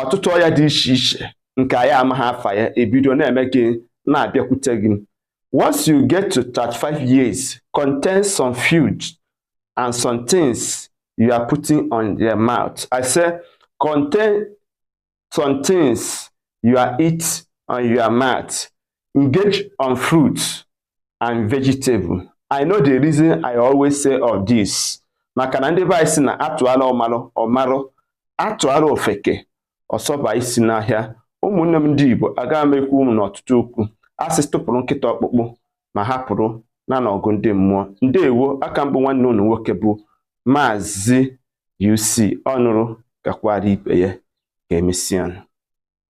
ọtụtụ ọya dị iche iche nke anyị amaghị afa ya ebido na-eme gị na-abịakwute gị once you get to 35 years contain some food and some things you are putting on your mouth i say contain some things you are eat on your mouth engage on fruits and vegetable i know the reason i always say all this maka na ndị be anyị si na atụala ọmarụ ọmarụ atụala ofeke ọsọba isi n'ọhịa ụmụnne m ndị igbo aga m ekwu ụmụ n'ọtụtụ okwu asị tụpụrụ nkịta ọkpụkpụ ma hapụrụ ya n'ọgụ ndị mmụọ ndewo aka m bụ nwanne unu nwoke bụ maazị UC ọnụrụ gwakwara ibe ya ka emesịa